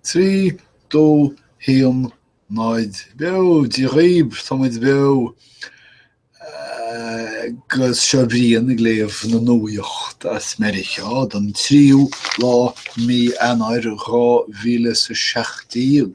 trí, dó, haon, náid, beo, Dia dhaoib, tá muid beo agus seo Brian ag léamh na nuaíocht as Meiriceá don tríú lá mí Eanáir dhá mhíle 'is a seacht déag.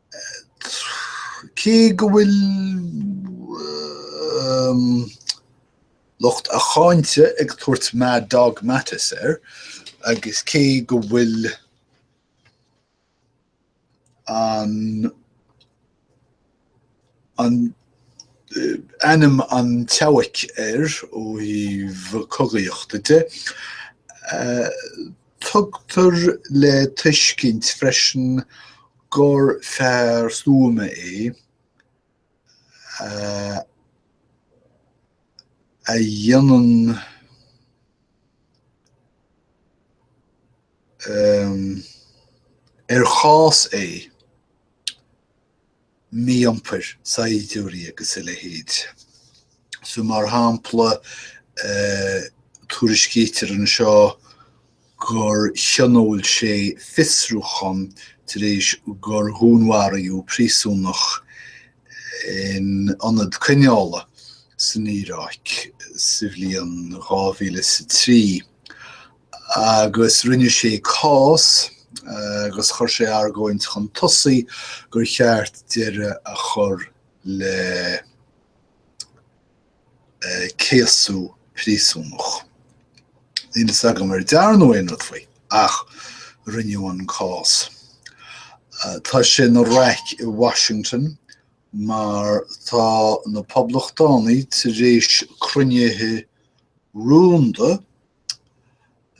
Cé go bhfuil lucht a cháinte ag tabhairt Mad Dog Mattis air agus cé go bhfuil an ainm an tSeabhaic air ó thaobh cogaíochta de, Tugtar le tuiscint freisin gur fear stuama é a dhéanann ar chás é. mí-iompar saighdiúirí agus a leithéid. So mar shampla, tuairiscítear anseo gur thionóil sé fiosrúchán tar éis gur dhúnmharaíodh príosúnach in ionad coinneála san Iaráic sa bhliain 2000 is a trí, agus rinne sé cás agus chuir sé argóint chun tosaigh gur cheart deireadh a chur le céasadh príosúnach. Níl fhios agam ar dearnadh aon rud faoi, ach rinneadh an cás. Tá sé ina raic i Washington mar tá na Poblachtánaigh tar éis cruinnithe rúnda,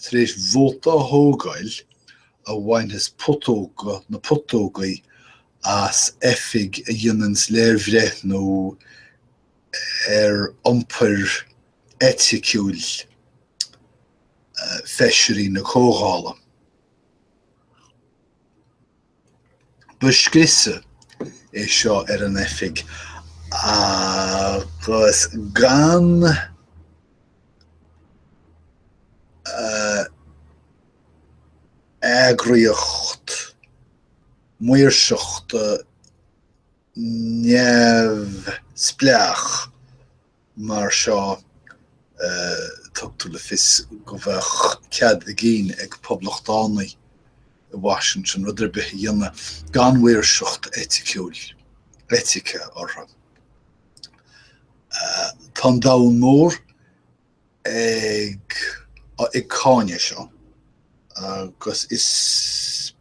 Tar éis vóta a thógáil a bhainfeas putóga na putógaí as oifig a dhéananns léirbhreithniú ar iompair eiticiúil feisirí na Comhdhála. Ba scriosadh é seo ar an oifig agus gan eagraíocht maoirseachta neamhspleách, mar seo, tugtar le fios go mbeadh cead a gcinn ag poblachtánaigh i Washington rud ar bith a dhéanamh gan mhaoirseacht eiticiúil, eitice, orthu. Tá an domhan mór ag cáineadh seo agus is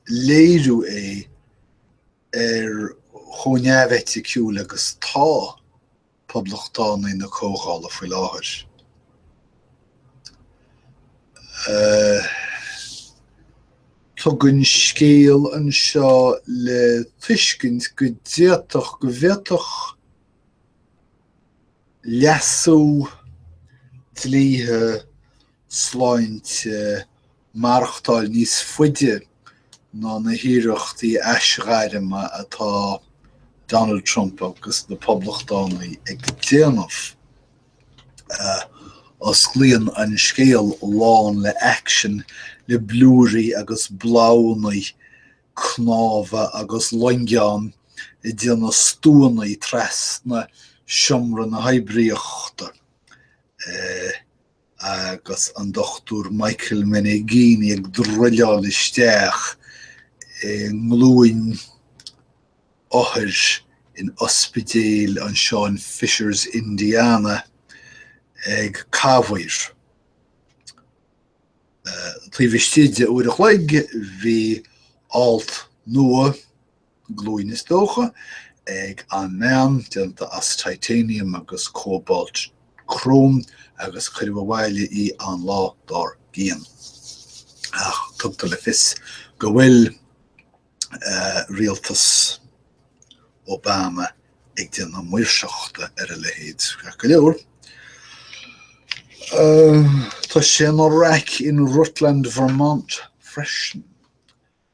léiriú é, ar chomh neamheiticiúil agus atá poblachtánaigh na Comhdhála faoi láthair. Tugann scéal anseo le tuiscint go d'fhéadfadh go bhféadfadh leasú dlíthe sláinte maireachtáil níos faide ná na hiarrachtaí aisghairme atá Donald Trump agus na Poblachtánaigh ag déanamh. Osclaíonn an scéal lán le aicsean, le blúirí agus blaghannaí, cnámha agus loingeáin ag déanamh stuannaí trasna Seomra na hOibríochta. agus an Dr Michael Meneghini ag druileáil isteach i nglúin othair in ospidéal anseo in Fishers, Indiana, ag camhaoir. Taobh istigh de uair a chloig bhí alt nua, glúin is dócha, ag an mbean, déanta as titanium agus cóbalt cróm, agus cuireadh abhaile í an lá dár gcionn. Ach tugtar le fios go bhfuil rialtas Obama ag déanamh maoirseachta ar a leithéid. Ceart go leor, tá sé ina raic in Rutland, Vermont freisin.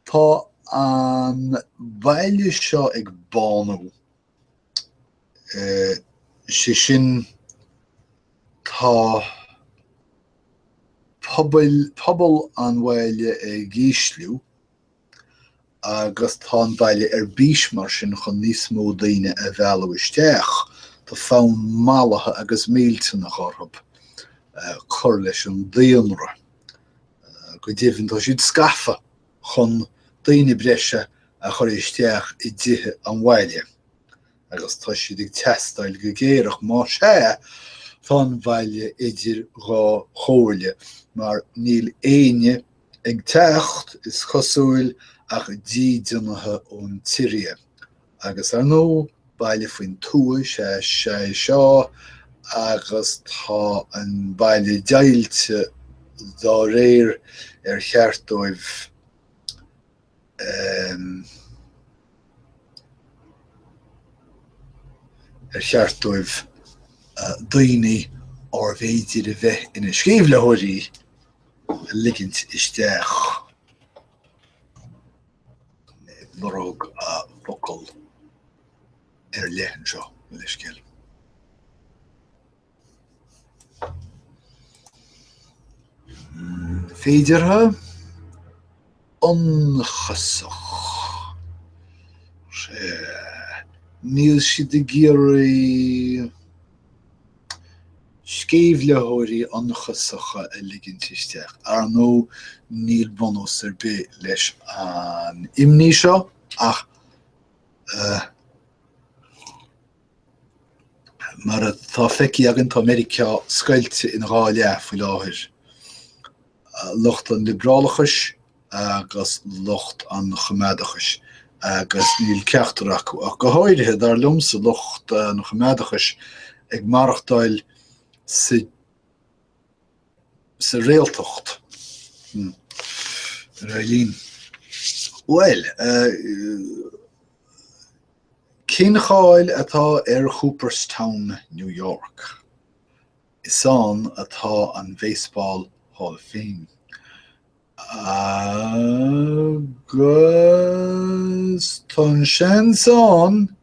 Tá an baile seo ag bánú, sé sin tá pobail, pobal an bhaile ag ísliú agus tá an baile ar bís mar sin chun níos mó daoine a mhealladh isteach. Tá fonn mallaithe agus millteanach orthub cur leis an daonra. Go deimhin tá siad scafa chun daoine breise a chur isteach i dtithe an bhaile agus tá siad ag teastáil go géar ach má sea, tá an baile idir dhá chomhairle mar níl éinne ag teacht, is cosúil, ach dídeanaithe ón tSiria. Agus ar ndóigh, baile faoin tuath is ea é seo agus tá an baile deighilte dá réir ar cheart dóibh ar cheart dóibh daoine arbh fhéidir a bheith ina sceimhlitheoirí a ligint isteach. lorg focal ar leith anseo leithscéal. féideartha, ionchasach, níl siad ag iarraidh. sceimhlitheoirí ionchasacha a ligint isteach. Ar ndóigh, níl bunús ar bith leis an imní seo ach eh. mar atá feicthe againn, tá Meiriceá scoilte ina dhá leath faoi láthair, lucht an liobrálachais agus lucht an choimeádachais agus níl ceachtar acu ach go háirithe, dar liomsa, lucht an choimeádachais ag maireachtáil sa réaltacht. Hm. Ar aghaidh linn. Bhuel, cén cháil atá ar Cooperstown, New York? Is ann atá an Baseball Hall of Fame. Agus tá seans ann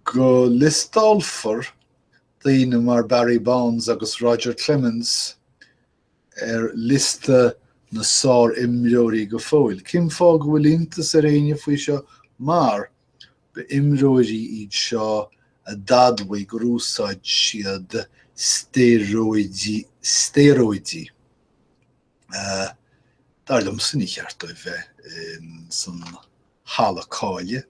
go liostálfar daoine mar Barry Bonds agus Roger Clemens ar liosta na sárimreoirí go fóill. Cén fáth go bhfuil iontas ar éinne faoi seo mar, Ba imreoirí iad seo a d'admhaigh gur úsáid siad stéaróidigh, stéaróidigh, dar liomsa ní ceart dóibh bheith san halla cáile,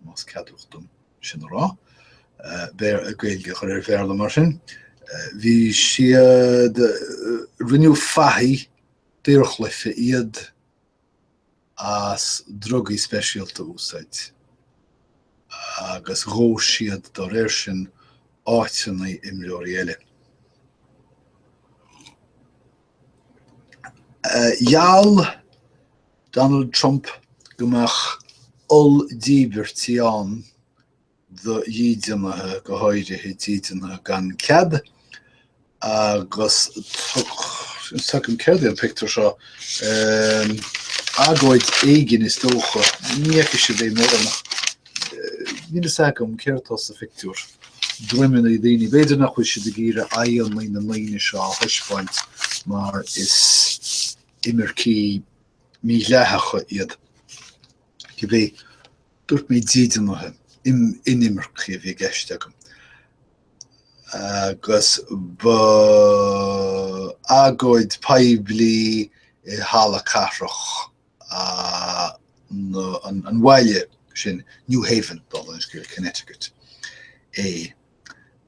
más ceadmhach dom sin a rá, Gaeilge a chur ar Bhéarla mar sin, bhí siad, rinneadh fathaigh daorchluiche iad. as drugaí speisialta a úsáid, agus ghnóthaigh siad dá réir sin áiteanna imreoirí eile. Gheall Donald Trump go mbeadh olldíbirtí ann do dhídeanaithe, go háirithe dídeanaithe gan cead, agus tuigim céard é an pictiúr seo, agóid éigin is dócha, ní fhaca siad é mura, níl fhios agam céard atá sa phictiúr, droimeannaí daoine, b'fhéidir nach bhfuil siad ag iarraidh aghaidheanna na ndaoine seo a thaispeáint mar is imircigh mídhleathacha iad. Cibé, dúirt mé dídeanaithe, inimircigh a bhí i gceist agam, agus ba agóid poiblí i halla cathrach an bhaile sin, New Haven, dála an scéil, Connecticut, é.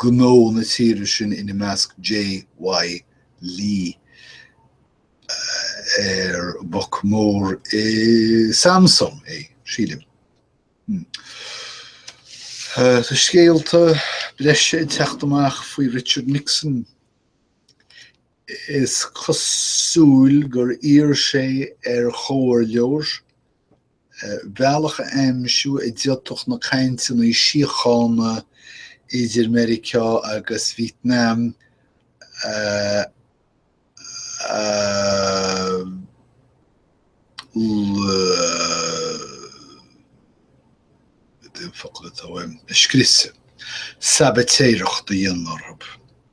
gnó na tíre sin, ina measc J.Y. Lee, ar boc mór i Samsung é, sílim. Tá scéalta breise ag teacht amach faoi Richard Nixon. Is cosúil gur iarr sé ar chomhairleoir bealach a aimsiú a d'fhéadfadh na cainteanna síochána idir Meiriceá agus Vítneam a scrios, sabaitéireacht a dhéanamh orthu.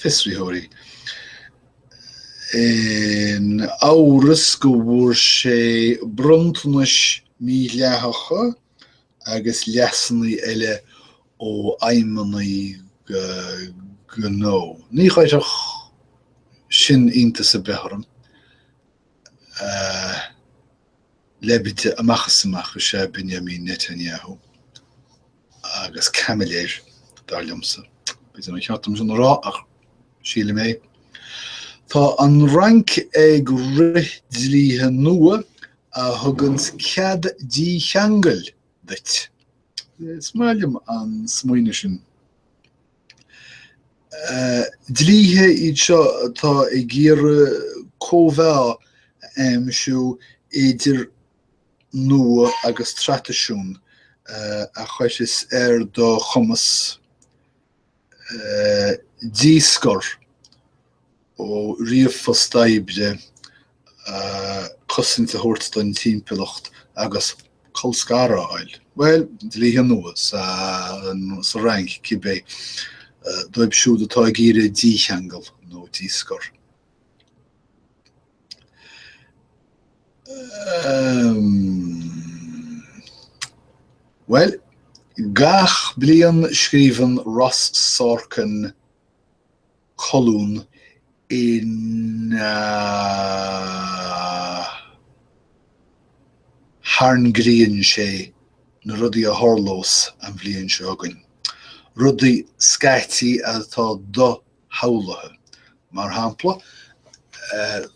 fiosraitheoirí. In amhras go bhfuair sé bronntanais mídhleathacha agus leasannaí eile ó fheidhmeannaigh gnó. Ní chuirfeadh sin iontas ar bith orm. Leibide amach is amach is ea Benjamin Netanyahu. agus caimiléir, dar liomsa. B'fhéidir nár cheart dom sin a rá, ach sílim é. Tá an Fhrainc ag rith dlíthe nua a thuganns cead dícheangail duit. Is maith liom an smaoineamh sin. Dlíthe iad seo atá ag iarraidh cóimheá a aimsiú idir nua agus traidisiún a chuirfeas ar do chumas díscor ó ríomhphost oibre, cosaint a thabhairt don timpeallacht agus colscaradh a fháil. Bhuel, dlíthe nua sa Fhrainc, cibé, dóibh siúd atá ag iarraidh dícheangal nó díscor. Bhuel, gach bliain scríobhann Ross Sorkin colún ina thairngríonn sé na rudaí a tharlós an bhliain seo chugainn, rudaí scaití atá shamhlaithe. Mar shampla,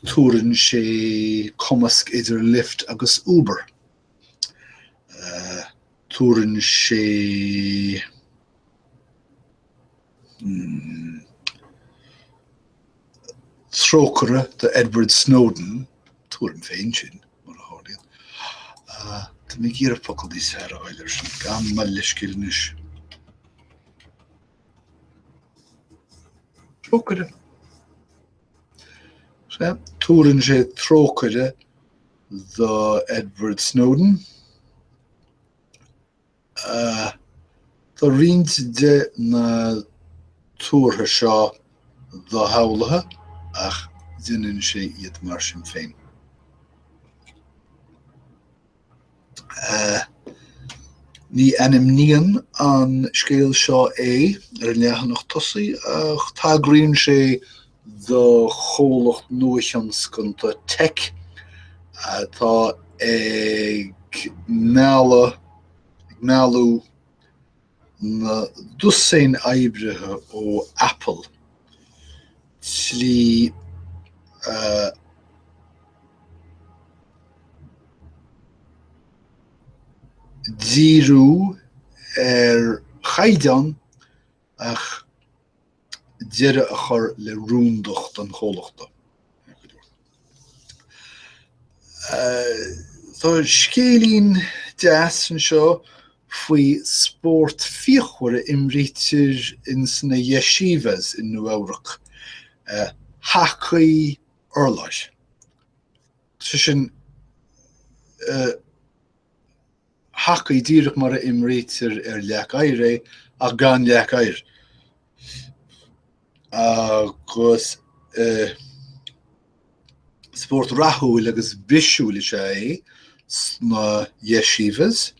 tuarann sé cumasc idir Lyft agus Uber. Tuarann sé, hmm. trócaire do Edward Snowden, tuaraim féin sin, mar a tharlaíonn. Tá mé ag iarraidh focal níos fearr a fháil air sin, gabh mo leithscéal anois. Trócaire. Tuarann sé trócaire do Edward Snowden. Tá roinnt de na tuartha seo doshamhlaithe ach déanann sé iad mar sin féin. Ní ainmníonn an scéal seo é ar an leathanach tosaigh ach tagraíonn sé do chomhlacht nuathionscanta teic atá ag mealladh, ag mealladh, na dosaein oibrithe ó Apple slí a. dhíriú ar chaighdeán ach. deireadh a chur le rúndacht an chomhlachta. Tá scéilín deas anseo faoi spórt fíochmhar a imrítear ins na yeshivas i Nua Eabhrac, hacaí urláir. Sé sin, hacaí, díreach mar a imrítear ar leac oighir é, ach gan leac oighir. Agus spórt rathúil agus bisiúil is ea é sna yeshivas.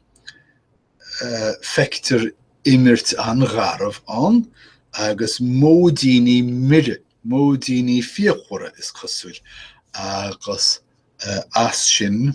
Feictear imirt an-gharbh ann agus móidíní mire, móidíní fíochmhara, is cosúil, agus as sin,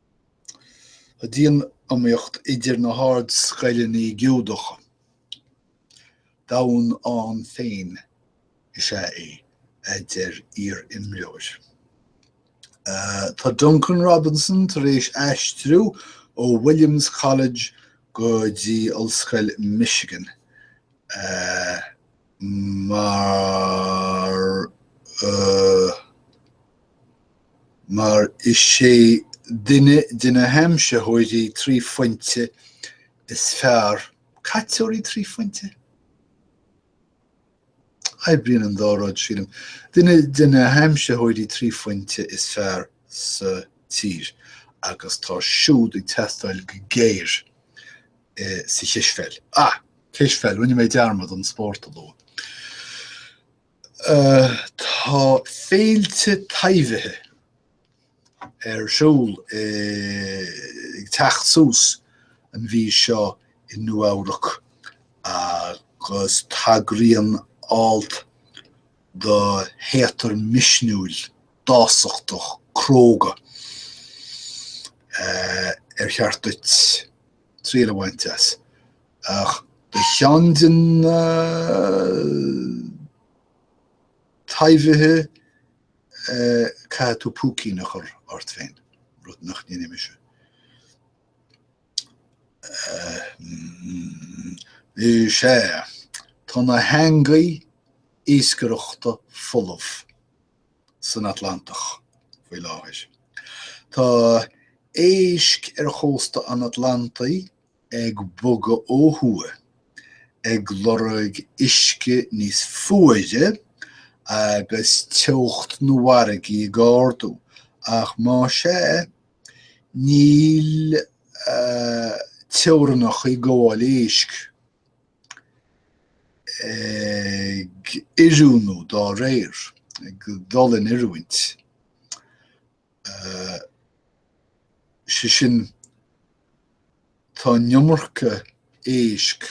Tá dianiomaíocht idir na hardscoileanna Giúdacha. Domhan ann féin is ea é, a deir iar-imreoir. Tá Duncan Robinson tar éis aistriú ó Williams College go dtí Ollscoil Michigan mar. mar is é duine de na haimsitheoirí trí phointe is fearr, caiteoirí trí phointe? oibríonn an dá rud, sílim, duine de na haimsitheoirí trí phointe is fearr sa tír agus tá siúd ag teastáil go géar sa chispheil. Ah! Cispheil, rinne mé dearmad an spórt a lua. Tá féilte taibhithe ar siúl ag teacht suas an mhí seo i Nua-Eabhrac agus tagraíonn alt do théatar misniúil, dásachtach, cróga ar cheart duit triail a bhaint as. Ach do cheann de na taibhithe caithfidh tú púicín a chur ort féin, rud nach ndéanfainn mise. Is ea, tá na heangaí iascaireachta folamh san Atlantach faoi láthair. Tá éisc ar chósta an Atlantaigh ag bogadh ó thuaidh, ag lorg uisce níos fuaire agus teocht na bhfarraigí ag ardú, ach más ea, níl teorainneacha gabhála éisc ag oiriúnú dá réir, ag dul in oiriúint sé sin, tá an iomarca éisc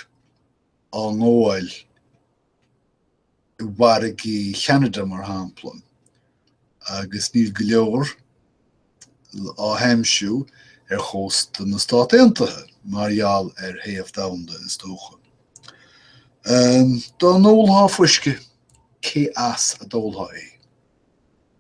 á ngabháil i bhfarraigí Cheanada, mar shampla, agus níl go leor á n-aimsiú ar chósta na Stát Aontaithe mar gheall ar théamh domhanda, is dócha. Dá n-ólfá fuisce, cé as a d'ólfá é?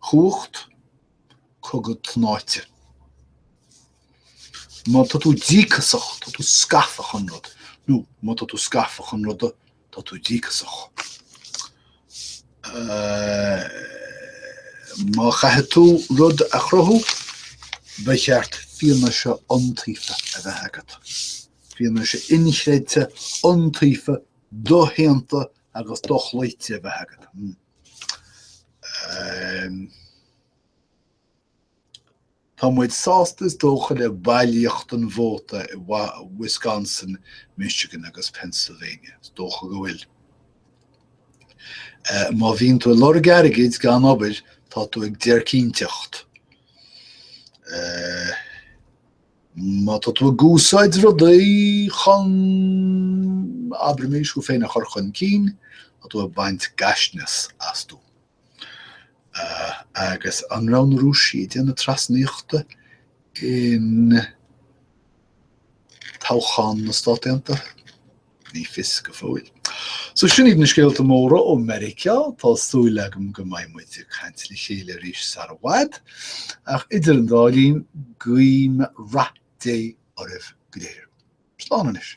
Cumhacht cogaidh tnáite. Má tá tú díocasach, tá tú scafa chun rud, nó má tá tú scafa chun ruda, tá tú díocasach. Má chaithfidh tú rud a chruthú, ba cheart fianaise iontaofa a bheith agat, fianaise inchreidte, iontaofa, doshéanta, agus dochloíte a bheith agat. Tá muid sásta is dócha le bailíocht an vóta i Wisconsin, Michigan agus Pennsylvania, is dócha go bhfuil. Má bhíonn tú ag lorg airgid gan obair, tá tú ag déircínteacht. Má tá tú ag úsáid rudaí chun, abraimis, thú féin a chur chun cinn, tá tú ag baint gaisneas astu. Agus an raibh na Rúisigh ag déanamh trasnaíochta in toghchán na Stát Aontaithe? Ní fios go fóill. So sin iad na scéalta móra ó Mheiriceá, tá súil agam go mbeidh muid ag caint le chéile arís sara bhfad, ach idir an dá linn, guím rath Dé oraibh go léir. Slán anois.